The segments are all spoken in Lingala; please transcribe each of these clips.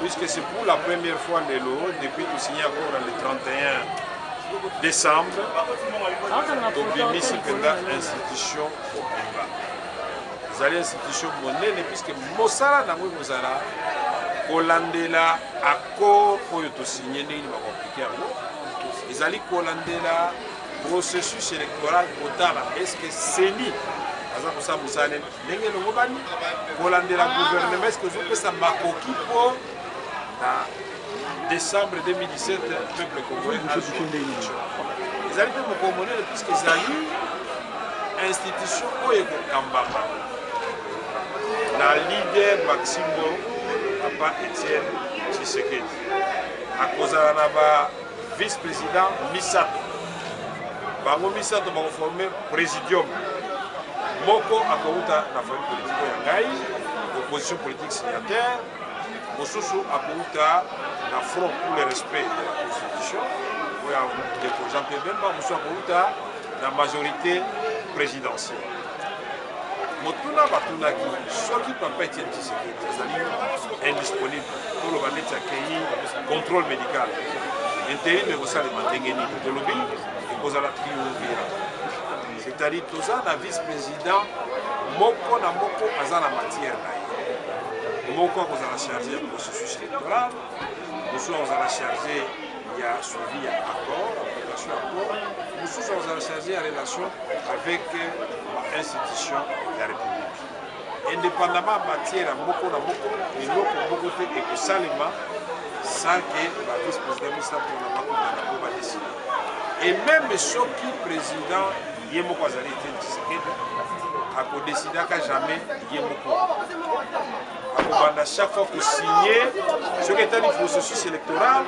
Puisque c'est pour la première fois lelo depuis to signer accord le 31 décembre tobimisi mpenza institution mobimba ezali institution monene puisque mosala na yango ekozala kolandela accord oyo tosigne ndenge bakoaplike yango ezali kolandela processus électoral kotala eske seni aza kosala mosala nini ndenge elongobani kolandela guvernema eske ezopesa makoki mpo na décembre 2017 peuple congolais ezali mpe mokolo monene puiske ezali institution oyo ekokambama na leader maximo papa etienne tshisekedi akozala na ba vice-president misato bango misato bakoforme présidium moko akouta na famille politiko ya ngai opposition politique signataire mosusu akouta na front pour le respect de la constitution oyo ya ndeko jean pierre bemba mosusu akouta na majorité présidentielle motuna batunaki soki papa etienne tshisekedi azali indisponible toloba neti akei contrôle médical interim ekosalema ndenge nini tolobi ekozala triumvira c'est-à-dire toza na vice président moko na moko aza na matière na ye moko akozala charge ya processus électoral mosusu akozala charge ya suivi ya accord application ya accord mosusu azala charge ya relation avec bainstitution ya république indépendamment ya matière ya moko na moko eloko moko te ekosalema sans que ba vice président misato na bakutana mpo badeside et même soki président ye moko azali te tshisekedi akodesidaka jamais ye moko akobanda chaque fois kosigne soki etali processus électoral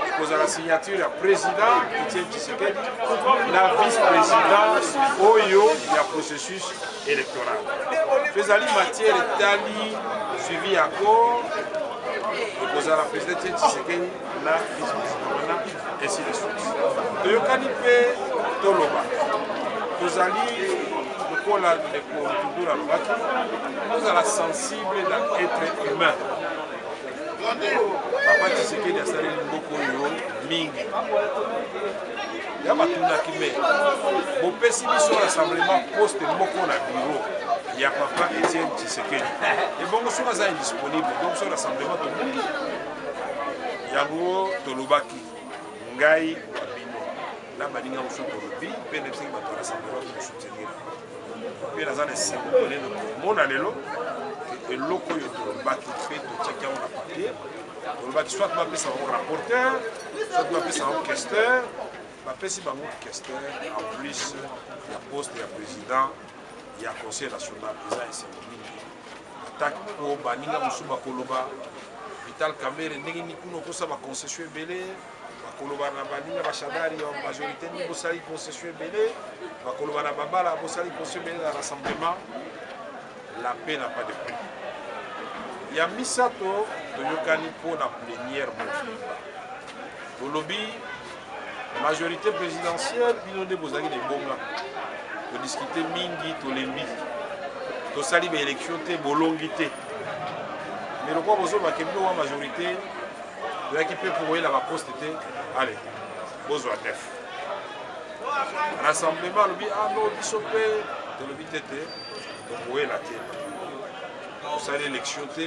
ekozala signature ya président etienne tshisekedi na vice-présidence oyo ya processus électoral mpe ezali matière etali suivi ya accord ekozala président etienne tshisekedi na business wana ainsi de suite toyokani mpe toloba tozali lokola ndeko dudu alobaki tozala sensible na être humain papa tisekedi asaleli mboka oyo mingi ya batunaki me bopesi biso rassemblement poste moko na biro ya papa etienne tisekedi ebongo soki aza indisponible donc so rassemblement tobungi yango tolobaki ngai wa bino na baninga mosusu tolobi mpe nayebisaki bato ya rassemblement kosoutenir mpe naza na esengo monene komona lelo eloko oyo tolobaki mpe totyaki yango na papier tolobaki soit bapesa bango rapporteur soit bapesa bango questeur bapesi bango questeur en plus ya poste ya président ya conseil national eza esengo mingi attaque mpo baninga mosusu bakoloba vital camere ndenge nini kuna okosa baconcession ebele bakoloba na baninga bashadari ya majorité nini bosali concession ebele bakoloba na babala bosali concession ebele na rassemblement la paix na pas de prix ya misato toyokani mpo na plenière mobimba tolobi majorité présidentielle bino nde bozalaki na ebonga todiskute mingi tolembi tosali baélection te bolongi te mais lokola bozobake bino wa majorité toyaki mpe koyela baposte te ale bozwa def rassemblement alobi ano ah biso mpe tolobi te te tokoyela te tosali élection te